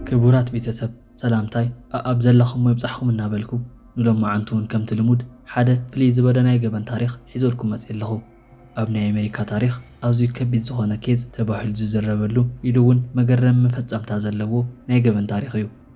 ክቡራት ቤተሰብ ሰላምታይ ኣኣብ ዘለኹሞ ይብጻሕኹም እናበልኩ ንሎማዓንቲ ውን ከምቲ ልሙድ ሓደ ፍልይ ዝበለ ናይ ገበን ታሪኽ ሒዘልኩም መጼ ኣለኹ ኣብ ናይ ኣሜሪካ ታሪኽ ኣዝዩ ከቢድ ዝኾነ ኬዝ ተባሂሉ ዝዝረበሉ ኢሉ ውን መገረሚ መፈጸምታ ዘለዎ ናይ ገበን ታሪኽ እዩ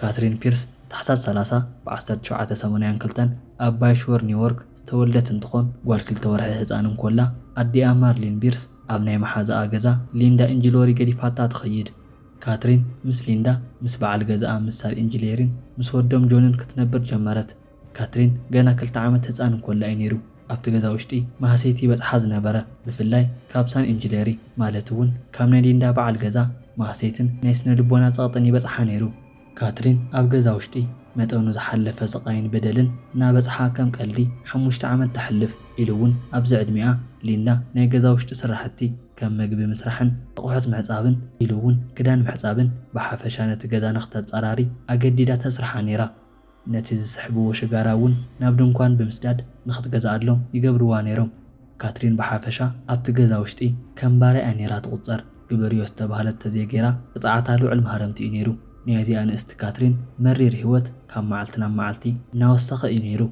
ካትሪን ፒርስ ታሕሳስ ሰላሳ ብ ዓሰርተ ሸውዓተ ሰማንያን ክልተን ኣብ ባይሽወር ኒውዮርክ ዝተወልደት እንትኾን ጓል ክልተ ወርሒ ህፃን እንኮላ ኣዲኣ ማርሊን ቢርስ ኣብ ናይ መሓዛኣ ገዛ ሊንዳ ኢንጅሎሪ ገዲፋታ ትኸይድ። ካትሪን ምስ ሊንዳ፣ ምስ በዓል ገዛኣ ምስ ሳር ኢንጅሌሪን ምስ ወዶም ጆንን ክትነብር ጀመረት። ካትሪን ገና ክልተ ዓመት ህጻን እንኮላ እዩ ነይሩ ኣብቲ ገዛ ውሽጢ ማህሰይቲ ይበጽሓ ዝነበረ ብፍላይ ካብ ሳን ኢንጂነሪ ማለት እውን ካብ ናይ ሊንዳ በዓል ገዛ ማህሰይትን ናይ ስነ ልቦና ጸቕጥን ይበጽሓ ነይሩ። ካትሪን ኣብ ገዛ ውሽጢ መጠኑ ዝሓለፈ ስቓይን በደልን እናበጽሓ ከም ቀልዲ ሓሙሽተ ዓመት ተሕልፍ ኢሉ እውን ኣብዚ ዕድሚኣ ሊንዳ ናይ ገዛ ውሽጢ ስራሕቲ ከም ምግቢ ምስራሕን ኣቑሑት ምሕጻብን ኢሉ እውን ክዳን ምሕጻብን ብሓፈሻ ነቲ ገዛ ንክተጸራሪ ኣገዲዳ ተስርሓ ነይራ። ነቲ ዝስሕብዎ ሽጋራ እውን ናብ ድንኳን ብምስዳድ ንኽትገዝኣሎም ይገብርዋ ነይሮም። ካትሪን ብሓፈሻ ኣብቲ ገዛ ውሽጢ ከም ባርያ እያ ነይራ ትቝጸር። ግበርዮ ዝተባህለት ተዘይገይራ ቅጽዓታ ልዑል ማህረምቲ እዩ ነይሩ። ናይ እዚኣ ንእስቲ ካትሪን መሪር ህይወት ካብ መዓልቲ ናብ መዓልቲ እናወሰኸ እዩ ነይሩ።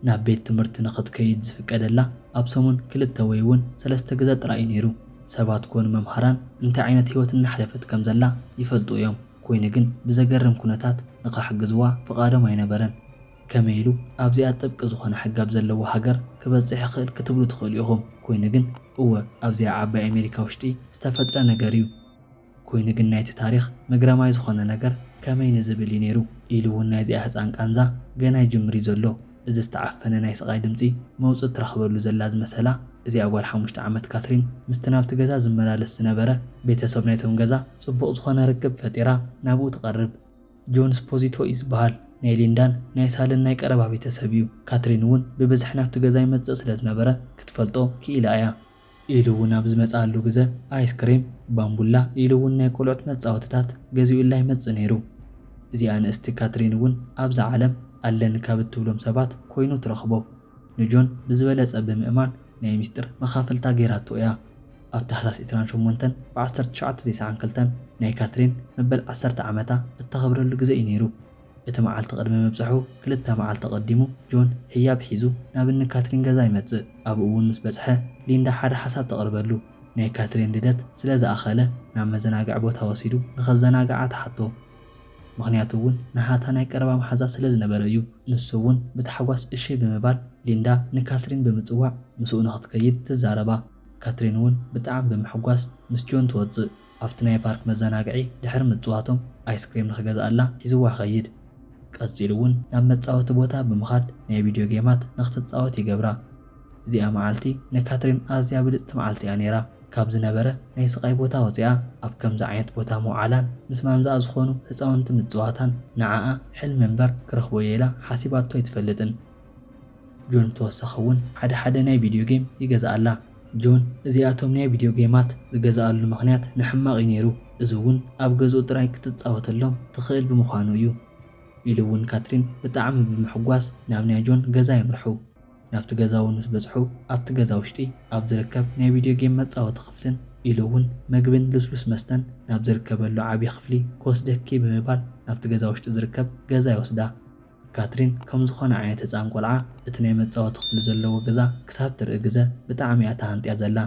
ናብ ቤት ትምህርቲ ንኽትከይድ ዝፍቀደላ ኣብ ሰሙን ክልተ ወይ እውን ሰለስተ ግዘ ጥራይ እዩ ነይሩ። ሰባት ኰኑ መምሃራን እንታይ ዓይነት ህይወት እናሕለፈት ከም ዘላ ይፈልጡ እዮም። ኮይኑ ግን ብዘገርም ኩነታት ንኸሕግዝዋ ፍቓዶም ኣይነበረን። ከመይ ኢሉ ኣብዚኣ ጥብቂ ዝኾነ ሕጊ ኣብ ዘለዎ ሃገር ክበጽሕ ይኽእል ክትብሉ ትኽእሉ ኢኹም። ኮይኑ ግን እወ ኣብዚኣ ዓባይ ኣሜሪካ ውሽጢ ዝተፈጥረ ነገር እዩ። ኮይኑ ግን ናይቲ ታሪኽ መግረማይ ዝኾነ ነገር ከመይ ንዝብል እዩ ነይሩ ኢሉ እውን ናይዚኣ ህጻን ቃንዛ ገና ይጅምር እዩ ዘሎ። እዚ ዝተዓፈነ ናይ ስቓይ ድምጺ መውጽኢ ትረኽበሉ ዘላ ዝመሰላ እዚኣ ጓል ሓሙሽተ ዓመት ካትሪን ምስቲ ናብቲ ገዛ ዝመላለስ ዝነበረ ቤተሰብ ናይቶም ገዛ ጽቡቕ ዝኾነ ርክብ ፈጢራ ናብኡ ትቐርብ። ጆን ስፖዚቶ እዩ ዝበሃል። ናይ ሊንዳን ናይ ሳልን ናይ ቀረባ ቤተሰብ እዩ። ካትሪን እውን ብብዝሒ ናብቲ ገዛ ይመጽእ ስለ ዝነበረ ክትፈልጦ ክኢላ እያ። ኢሉ እውን ኣብ ዝመጽኣሉ ግዘ ኣይስክሬም፣ ባምቡላ ኢሉ እውን ናይ ቆልዑት መጻወቲታት ገዚኡላ ይመጽእ ነይሩ። እዚኣ ንእስቲ ካትሪን እውን ኣብዛ ዓለም ኣለኒ ካብ እትብሎም ሰባት ኮይኑ ትረኽቦ። ንጆን ብዝበለጸ ብምእማን ናይ ምስጢር መኻፍልታ ገይራቶ እያ። ኣብ ታሕሳስ ዕስራን ሸሞንተን ብዓሰርተ ትሽዓተ ዜሰዓን ክልተን ናይ ካትሪን መበል ዓሰርተ ዓመታ እተኸብረሉ ግዘ እዩ ነይሩ። እቲ መዓልቲ ቅድሚ ምብጻሑ ክልተ መዓልቲ ኣቐዲሙ፣ ጆን ህያብ ሒዙ ናብ እኒ ካትሪን ገዛ ይመጽእ። ኣብኡ'ውን ምስ በጽሐ፣ ሊንዳ ሓደ ሓሳብ ተቕርበሉ። ናይ ካትሪን ልደት ስለ ዝኣኸለ፣ ናብ መዘናግዒ ቦታ ወሲዱ ንኸዘናግዓ ትሓቶ። ምኽንያቱ'ውን ንሃታ ናይ ቀረባ መሓዛ ስለ ዝነበረ እዩ። ንሱ'ውን ብታሕጓስ እሺ ብምባል፣ ሊንዳ ንካትሪን ብምጽዋዕ ምስኡ ንኽትከይድ ትዛረባ። ካትሪን'ውን ብጣዕሚ ብምሕጓስ ምስ ጆን ትወጽእ። ኣብቲ ናይ ፓርክ መዘናግዒ ድሕሪ ምጽዋቶም ኣይስክሬም ንኽገዝኣላ ሒዝዋ ይኸይድ። ቀጺሉ እውን ናብ መጻወቲ ቦታ ብምኻድ ናይ ቪድዮ ጌማት ንኽትጻወት ይገብራ። እዚኣ መዓልቲ ንካትሪን ኣዝያ ብልጽቲ መዓልቲ እያ ነይራ። ካብ ዝነበረ ናይ ስቓይ ቦታ ወጺኣ ኣብ ከምዚ ዓይነት ቦታ ምውዓላን ምስ ማንዛኣ ዝኾኑ ህጻውንቲ ምጽዋታን ንዓኣ ሕልሚ እምበር ክረኽቦ እየ ኢላ ሓሲባቶ ኣይትፈልጥን። ጆን ብተወሳኺ እውን ሓደ ሓደ ናይ ቪድዮ ጌም ይገዝኣላ። ጆን እዚኣቶም ናይ ቪድዮ ጌማት ዝገዝኣሉ ምኽንያት ንሕማቕ እዩ ነይሩ፣ እዚ እውን ኣብ ገዝኡ ጥራይ ክትጻወተሎም ትኽእል ብምዃኑ እዩ። ኢሉ እውን ካትሪን ብጣዕሚ ብምሕጓስ ናብ ናይ ጆን ገዛ የምርሑ። ናብቲ ገዛ እውን ምስ በጽሑ ኣብቲ ገዛ ውሽጢ ኣብ ዝርከብ ናይ ቪድዮ ጌም መጻወቲ ክፍልን ኢሉ እውን መግብን ልስሉስ መስተን ናብ ዝርከበሉ ዓብዪ ክፍሊ ክወስደኪ ብምባል ናብቲ ገዛ ውሽጢ ዝርከብ ገዛ ይወስዳ። ካትሪን ከም ዝኾነ ዓይነት ህጻን ቆልዓ እቲ ናይ መጻወቲ ክፍሊ ዘለዎ ገዛ ክሳብ ትርኢ ግዘ ብጣዕሚ እያ ተሃንጥያ ዘላ።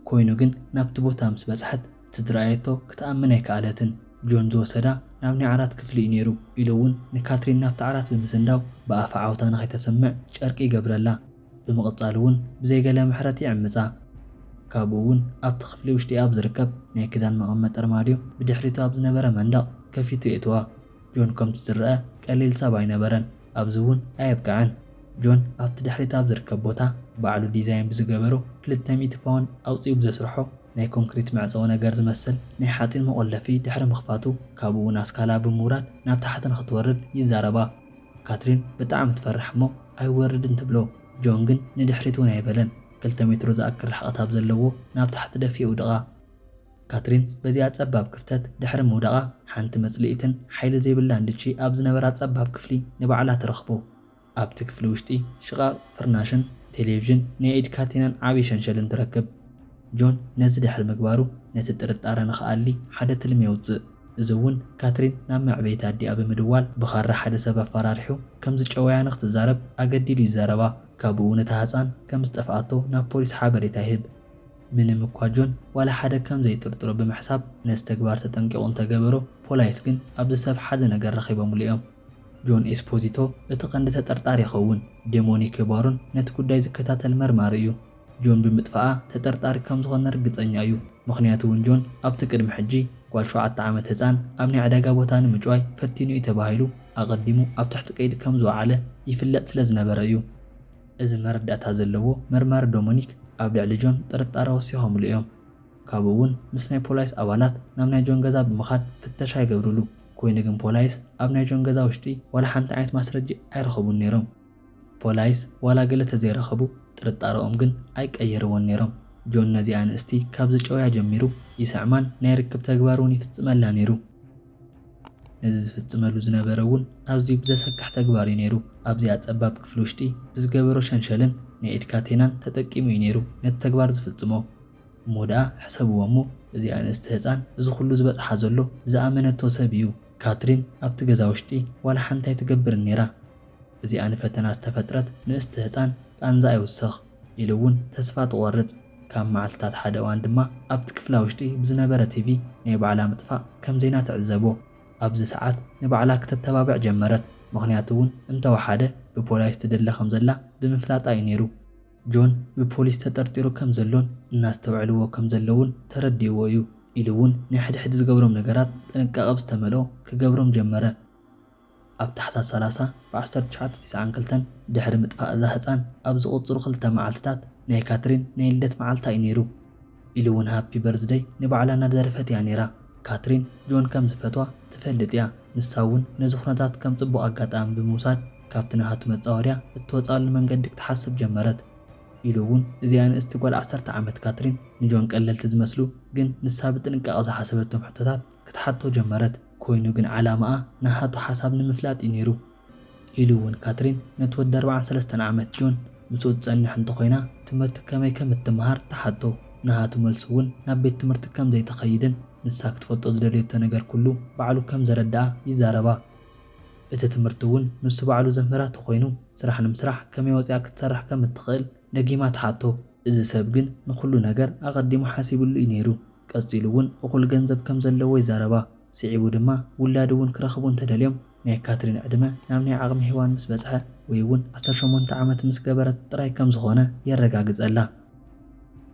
ኮይኑ ግን ናብቲ ቦታ ምስ በጽሐት እቲ ዝረኣየቶ ክትኣምን ኣይከኣለትን። ጆን ዝወሰዳ ናብ ናይ ዓራት ክፍሊ እዩ ነይሩ ኢሉ እውን ንካትሪን ናብቲ ዓራት ብምስንዳው ብኣፋ ዓውታ ንኸይተስምዕ ጨርቂ ይገብረላ። ብምቕጻል እውን ብዘይ ገለ ምሕረት ይዕምጻ። ካብኡ እውን ኣብቲ ክፍሊ ውሽጢ ኣብ ዝርከብ ናይ ክዳን መቐመጢ ኣርማድዮ ብድሕሪቱ ኣብ ዝነበረ መንደቕ ከፊቱ የእትዋ። ጆን ከምቲ ዝረኣ ቀሊል ሰብ ኣይነበረን፣ ኣብዚ እውን ኣየብቀዐን። ጆን ኣብቲ ድሕሪት ኣብ ዝርከብ ቦታ ባዕሉ ዲዛይን ብዝገበሮ ክልተ ሚእቲ ፓውንድ ኣውጺኡ ብዘስርሖ ናይ ኮንክሪት መዕጸዊ ነገር ዝመስል ናይ ሓጺን መቖለፊ ድሕሪ ምኽፋቱ ካብኡ ናስካላ ብምውራድ ናብ ታሕቲ ንኽትወርድ ይዛረባ። ካትሪን ብጣዕሚ ትፈርሕ እሞ ኣይወርድን ትብሎ። ጆን ግን ንድሕሪት እውን ኣይበለን። ክልተ ሜትሮ ዝኣክል ርሕቐት ኣብ ዘለዎ ናብ ታሕቲ ደፊኡ ወደቓ። ካትሪን በዚኣ ጸባብ ክፍተት ድሕሪ ምውዳቓ፣ ሓንቲ መጽልኢትን ሓይሊ ዘይብላን ልቺ ኣብ ዝነበራ ጸባብ ክፍሊ ንባዕላ ትረኽቦ። ኣብቲ ክፍሊ ውሽጢ ሽቓቕ ፍርናሽን ቴሌቭዥን ናይ ኢድ ካቴናን ዓቢ ሸንሸልን ትረክብ። ጆን ነዚ ድሕሪ ምግባሩ ነቲ ጥርጣረ ንኽኣሊ ሓደ ትልሚ የውጽእ። እዚ እውን ካትሪን ናብ መዕበይቲ ኣዲኣ ብምድዋል ብኻራ ሓደ ሰብ ኣፋራሪሑ ከም ዝጨወያ ንኽትዛረብ ኣገዲዱ ይዛረባ። ካብኡ እውን እታ ህጻን ከም ዝጠፍኣቶ ናብ ፖሊስ ሓበሬታ ይህብ። ምንም እኳ ጆን ዋላ ሓደ ከም ዘይጥርጥሮ ብምሕሳብ ነዚ ተግባር ተጠንቂቑ እንተ ገበሮ፣ ፖላይስ ግን ኣብዚ ሰብ ሓደ ነገር ረኺቦምሉ እዮም። ጆን ኤስፖዚቶ እቲ ቀንዲ ተጠርጣሪ ይኸውን። ደሞኒከ ባሮን ነቲ ጉዳይ ዝከታተል መርማሪ እዩ። ጆን ብምጥፍኣ ተጠርጣሪ ከም ዝኾነ ርግጸኛ እዩ። ምኽንያቱ እውን ጆን ኣብቲ ቅድሚ ሕጂ ጓል ሸውዓተ ዓመት ህጻን ኣብ ናይ ዕዳጋ ቦታ ንምጭዋይ ፈቲኑ እዩ ተባሂሉ ኣቐዲሙ ኣብ ትሕቲ ቀይዲ ከም ዝወዓለ ይፍለጥ ስለ ዝነበረ እዩ። እዚ መረዳእታ ዘለዎ መርማሪ ዶሞኒክ ኣብ ልዕሊ ጆን ጥርጣረ ወሲኾምሉ እዮም። ካብኡ እውን ምስ ናይ ፖላይስ ኣባላት ናብ ናይ ጆን ገዛ ብምኻድ ፍተሻ ይገብርሉ። ኮይኑ ግን ፖላይስ ኣብ ናይ ጆን ገዛ ውሽጢ ዋላ ሓንቲ ዓይነት ማስረጂ ኣይረኸቡን ነይሮም። ፖላይስ ዋላ ገለ ተዘይረኸቡ ጥርጣረኦም ግን ኣይቀየርዎን ነይሮም። ጆን ነዚኣ ንእስቲ ካብ ዝጨውያ ጀሚሩ ይስዕማን ናይ ርክብ ተግባር እውን ይፍፅመላ ነይሩ። ነዚ ዝፍጽመሉ ዝነበረ እውን ኣዝዩ ብዘሰክሕ ተግባር እዩ ነይሩ። ኣብዚኣ ጸባብ ክፍሊ ውሽጢ ብዝገበሮ ሸንሸልን ናይ ኢድ ካቴናን ተጠቂሙ እዩ ነይሩ ነቲ ተግባር ዝፍጽሞ። እሞ ደኣ ሕሰብዎ እሞ እዚኣ ንእስቲ ህጻን እዚ ኩሉ ዝበጽሓ ዘሎ ብዝኣመነቶ ሰብ እዩ። ካትሪን ኣብቲ ገዛ ውሽጢ ዋላ ሓንቲ ኣይትገብርን ነይራ። እዚኣ ንፈተና ዝተፈጥረት ንእስቲ ህጻን ቃንዛ ኣይውሰኽ። ኢሉ እውን ተስፋ ትቖርጽ። ካብ መዓልትታት ሓደ እዋን ድማ ኣብቲ ክፍላ ውሽጢ ብዝነበረ ቲቪ ናይ ባዕላ ምጥፋእ ከም ዜና ትዕዘቦ። ኣብዚ ሰዓት ንባዕላ ክተተባብዕ ጀመረት፣ ምኽንያቱ እውን እንተወሓደ ብፖላይስ ትድለ ከም ዘላ ብምፍላጣ እዩ ነይሩ። ጆን ብፖሊስ ተጠርጢሩ ከም ዘሎን እናስተውዕልዎ ከም ዘለዉን ተረዲእዎ እዩ ኢሉ እውን ናይ ሕድሕድ ዝገብሮም ነገራት ጥንቃቐ ብዝተመልኦ ክገብሮም ጀመረ። ኣብ ታሕሳስ ሰላሳ ብ ዓሰርተ ትሽዓተ ቲስዓን ክልተን ድሕሪ ምጥፋእ እዛ ህጻን ኣብ ዝቕጽሉ ክልተ መዓልትታት ናይ ካትሪን ናይ ልደት መዓልታ እዩ ነይሩ። ኢሉ እውን ሃፒ በርዝደይ ንባዕላ እናደረፈት እያ ነይራ። ካትሪን ጆን ከም ዝፈትዋ ትፈልጥ እያ፣ ንሳ እውን ነዚ ኵነታት ከም ጽቡቕ ኣጋጣሚ ብምውሳድ ካብቲ ናሃቱ መጻወድያ እትወጽኣሉ መንገዲ ክትሓስብ ጀመረት። ኢሉ እውን እዚኣ ንእስቲ ጓል ዓሰርተ ዓመት ካትሪን ንጆን ቀለልቲ ዝመስሉ ግን ንሳ ብጥንቃቐ ዝሓሰበቶም ሕቶታት ክትሓቶ ጀመረት። ኮይኑ ግን ዓላማኣ ናሃቱ ሓሳብ ንምፍላጥ እዩ ነይሩ። ኢሉ እውን ካትሪን ነቲ ወዲ ኣርብዓን ሰለስተን ዓመት ጆን ምስኡ ትጸንሕ እንተኾይና ትምህርቲ ከመይ ከም እትመሃር ትሓቶ። ናሃቱ መልሱ እውን ናብ ቤት ትምህርቲ ከም ዘይትኸይድን ንሳ ክትፈልጦ ዝደለዮቶ ነገር ኩሉ ባዕሉ ከም ዘረድኣ ይዛረባ። እቲ ትምህርቲ እውን ንሱ ባዕሉ ዘምህራ ተኾይኑ ስራሕ ንምስራሕ ከመይ ወጺኣ ክትሰርሕ ከም እትኽእል ደጊማ ትሓቶ። እዚ ሰብ ግን ንኹሉ ነገር ኣቐዲሙ ሓሲብሉ እዩ ነይሩ። ቀጺሉ እውን እኹል ገንዘብ ከም ዘለዎ ይዛረባ። ስዒቡ ድማ ውላድ እውን ክረኽቡ እንተደልዮም ናይ ካትሪን ዕድመ ናብ ናይ ዓቕሚ ሄዋን ምስ በጽሐ ወይ እውን ዓሰርተ ሸሞንተ ዓመት ምስ ገበረት ጥራይ ከም ዝኾነ የረጋግጸላ።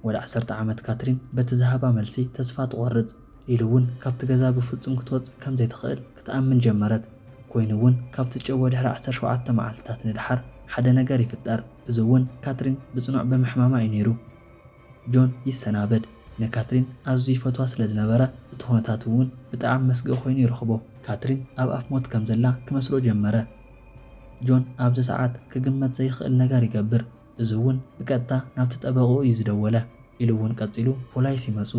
ወደ ዓሰርተ ዓመት ካትሪን በቲ ዝሃባ መልሲ ተስፋ ትቖርጽ። ኢሉ እውን ካብቲ ገዛ ብፍጹም ክትወጽእ ከም ዘይትኽእል ክትኣምን ጀመረት። ኮይኑ እውን ካብ ትጨወ ድሕሪ ዓሰርተ ሸውዓተ መዓልትታት ንደሓር ሓደ ነገር ይፍጠር። እዚ እውን ካትሪን ብጽኑዕ ብምሕማማ እዩ ነይሩ። ጆን ይሰናበድ። ንካትሪን ኣዝዩ ይፈትዋ ስለ ዝነበረ፣ እቲ ዅነታቱ'ውን ብጣዕሚ መስግኢ ዀይኑ ይረኽቦ። ካትሪን ኣብ ኣፍ ሞት ከም ዘላ ክመስሎ ጀመረ። ጆን ኣብዚ ሰዓት ክግመት ዘይክእል ነገር ይገብር። እዚ'ውን ብቀጥታ ናብቲ ጠበቕኡ እዩ ዝደወለ። ኢሉ'ውን ቀጺሉ ፖላይስ ይመጹ።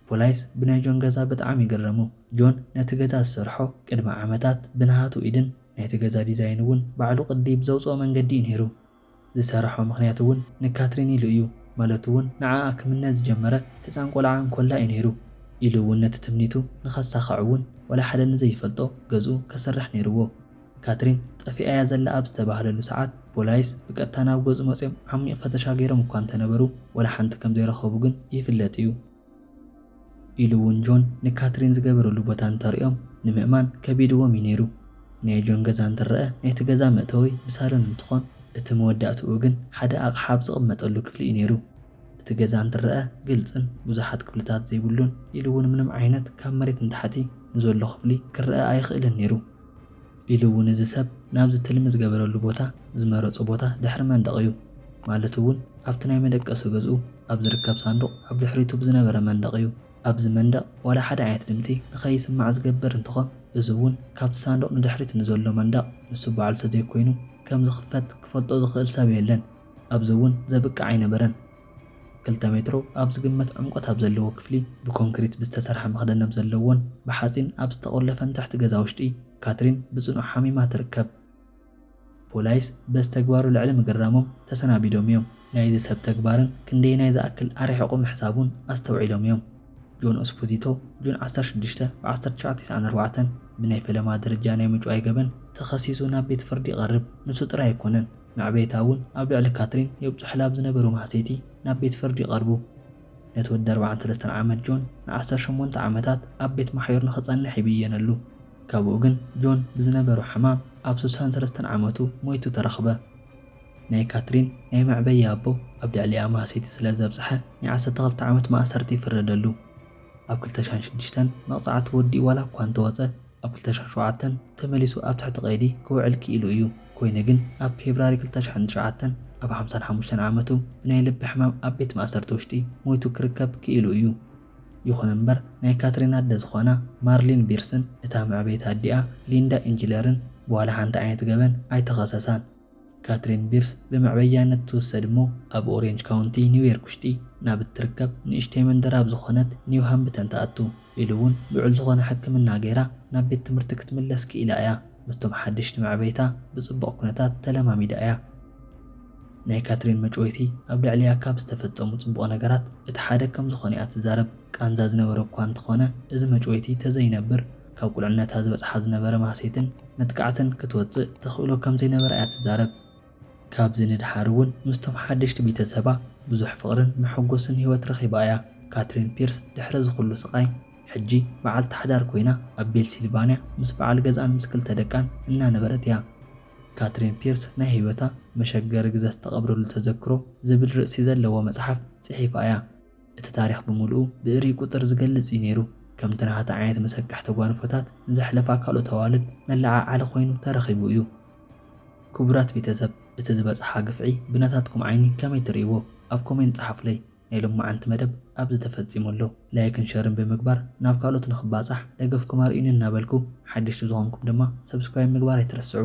ፖላይስ ብናይ ጆን ገዛ ብጣዕሚ ይግረሙ። ጆን ነቲ ገዛ ዝሰርሖ ቅድሚ ዓመታት ብናሃቱ ኢድን ናይቲ ገዛ ዲዛይን'ውን ባዕሉ ቅዲ ብዘውጽኦ መንገዲ እዩ ነይሩ። ዝሰራሖ ምኽንያት እውን ንካትሪን ኢሉ እዩ፣ ማለቱ እውን ንዓኣ ክምነ ዝጀመረ ሕፃን ቆልዓ እንኮላ እዩ ነይሩ። ኢሉ እውን ነቲ ትምኒቱ ንኸሳኽዕ እውን ዋላ ሓደ ንዘይፈልጦ ገዝኡ ከስርሕ ነይርዎ። ካትሪን ጠፊኣ እያ ዘላ ኣብ ዝተባህለሉ ሰዓት ፖላይስ ብቀጥታ ናብ ገዝኡ መፂኦም ዓሚቕ ፈተሻ ገይሮም እኳ እንተነበሩ ዋላ ሓንቲ ከምዘይረኸቡ ግን ይፍለጥ እዩ። ኢሉ እውን ጆን ንካትሪን ዝገበረሉ ቦታ እንተርእዮም ንምእማን ከቢድዎም እዩ ነይሩ። ናይ ጆን ገዛ እንትረኣ ናይቲ ገዛ መእተዊ ብሳሎን እንትኾን እቲ መወዳእትኡ ግን ሓደ ኣቕሓ ኣብ ዝቕመጠሉ ክፍሊ እዩ ነይሩ። እቲ ገዛ እንትረኣ ግልፅን ብዙሓት ክፍልታት ዘይብሉን ኢሉ እውን ምንም ዓይነት ካብ መሬት ንታሕቲ ንዘሎ ክፍሊ ክረኣ ኣይኽእልን ነይሩ። ኢሉ እውን እዚ ሰብ ናብዚ ትልሚ ዝገበረሉ ቦታ ዝመረፆ ቦታ ድሕሪ መንደቕ እዩ። ማለት እውን ኣብቲ ናይ መደቀሲ ገዝኡ ኣብ ዝርከብ ሳንዱቕ ኣብ ድሕሪቱ ብዝነበረ መንደቕ እዩ። ኣብዚ መንደቕ ዋላ ሓደ ዓይነት ድምፂ ንከይስማዕ ዝገብር እንትኾን እዚ እውን ካብቲ ሳንዱቕ ንድሕሪት ንዘሎ መንደቕ ንሱ ባዕሉ ተዘይኮይኑ ከምዝኽፈት ክፈልጦ ዝኽእል ሰብ የለን። ኣብዚ እውን ዘብቅዕ ኣይነበረን። ክልተ ሜትሮ ኣብ ዝግመት ዕምቆት ኣብ ዘለዎ ክፍሊ ብኮንክሪት ብዝተሰርሐ መኽደኒ ኣብ ዘለዎን ብሓጺን ኣብ ዝተቖለፈን ትሕቲ ገዛ ውሽጢ፣ ካትሪን ብጽኑዕ ሓሚማ ትርከብ። ፖላይስ በዚ ተግባሩ ልዕሊ ምግራሞም ተሰናቢዶም እዮም። ናይዚ ሰብ ተግባርን ክንደየናይ ዝኣክል ኣርሒቑ ምሕሳቡን ኣስተውዒሎም እዮም። ጆን ኡስፑዚቶ፣ ጁን ዓሰርተ ሽዱሽተ፣ ብ ዓሰርተ ትሽዓተ ሰሰዓን ኣርባዕተ፣ ብናይ ፈለማ ደረጃ ናይ ምጭዋይ ገበን ተኸሲሱ ናብ ቤት ፍርዲ ይቐርብ። ንሱ ጥራይ ኣይኮነን። መዕበይታ እውን ኣብ ልዕሊ ካትሪን የብጽሑላ ብ ዝነበሩ ማህሰይቲ ናብ ቤት ፍርዲ ይቐርቡ። ነቲ ወዲ ኣርብዓን ሰለስተን ዓመት ጆን ንዓሰርተ ሸሞንተ ዓመታት ኣብ ቤት ማሕዩር ንኽጸንሕ ይብየነሉ። ካብኡ ግን ጆን ብዝነበሮ ሕማም ኣብ ስሳን ሰለስተን ዓመቱ ሞይቱ ተረኽበ። ናይ ካትሪን ናይ መዕበያ ኣቦ ኣብ ልዕሊኣ ማህሰይቲ ስለ ዘብጽሐ ናይ ዓሰርተ ክልተ ዓመት ማእሰርቲ ይፍረደሉ። ኣብ ክልተ ሽሕን ሽዱሽተን መቕጻዕቱ ወዲኡ ዋላ እኳ እንተወጸ ኣብ ክልተ ሽሕ ሸውዓተን ተመሊሱ ኣብ ትሕቲ ቀይዲ ክውዕል ክኢሉ እዩ። ኮይኑ ግን ኣብ ፌብራሪ ክልተ ሽሕን ትሽዓተን ኣብ ሓምሳን ሓሙሽተን ዓመቱ ብናይ ልቢ ሕማም ኣብ ቤት ማእሰርቲ ውሽጢ ሞይቱ ክርከብ ክኢሉ እዩ። ይኹን እምበር ናይ ካትሪን ኣደ ዝኾና ማርሊን ቢርስን እታ መዕበይቲ ኣዲኣ ሊንዳ ኢንጅለርን ብዋላ ሓንቲ ዓይነት ገበን ኣይተኸሰሳን። ካትሪን ቢርስ ብመዕበያነት ትውሰድ እሞ ኣብ ኦሬንጅ ካውንቲ ኒው ዮርክ ውሽጢ ናብ እትርከብ ንእሽተይ መንደር ኣብ ዝኾነት ኒው ሃምብተን ትኣቱ ኢሉ እውን ልዑል ዝኾነ ሕክምና ገይራ ናብ ቤት ትምህርቲ ክትምለስ ክኢላ እያ። ምስቶም ሓደሽቲ መዕበይታ ብፅቡቕ ኩነታት ተለማሚዳ እያ። ናይ ካትሪን መጭወይቲ ኣብ ልዕሊኣ ካብ ዝተፈፀሙ ፅቡቕ ነገራት እቲ ሓደ ከምዝኾነ እያ ትዛረብ። ቃንዛ ዝነበሮ እኳ እንተኾነ እዚ መጭወይቲ ተዘይነብር ካብ ቁልዕነታ ዝበጽሓ ዝነበረ ማህሰይትን መጥቃዕትን ክትወጽእ ተኽእሎ ከም ዘይነበራ እያ ትዛረብ። ካብዚ ንደሓር እውን ምስቶም ሓደሽቲ ቤተሰባ ብዙሕ ፍቕርን መሐጎስን ህይወት ረኺባ እያ። ካትሪን ፒርስ ድሕሪ እዚ ኹሉ ስቓይ ሕጂ በዓልቲ ሓዳር ኮይና ኣብ ቤልሲልቫንያ ምስ በዓል ገዝኣን ምስ ክልተ ደቃን እናነበረት እያ። ካትሪን ፒርስ ናይ ህይወታ መሸገሪ ግዘ ዝተቐብረሉ ተዘክሮ ዝብል ርእሲ ዘለዎ መጽሓፍ ጽሒፋ እያ። እቲ ታሪኽ ብምሉኡ ብእርይ ቁጽር ዝገልጽ እዩ ነይሩ። ከምቲ ናሃታ ዓይነት መሰካሕ ተጓንፎታት ንዘሕለፋ ካልኦት ኣዋልድ መለዓዓሊ ኮይኑ ተረኺቡ እዩ። ክቡራት ቤተሰብ እቲ ዝበጽሓ ግፍዒ ብናታትኩም ዓይኒ ከመይ ትርእይዎ ኣብ ኮሜንት ጸሓፉለይ። ናይ ሎምዓንቲ መደብ ኣብዚ ተፈጺሙ ኣሎ። ላይክን ሸርን ብምግባር ናብ ካልኦት ንኽባጻሕ ደገፍኩም ኣርእዩኒ እናበልኩ ሓደሽቲ ዝኾንኩም ድማ ሰብስክራይብ ምግባር ኣይትረስዑ።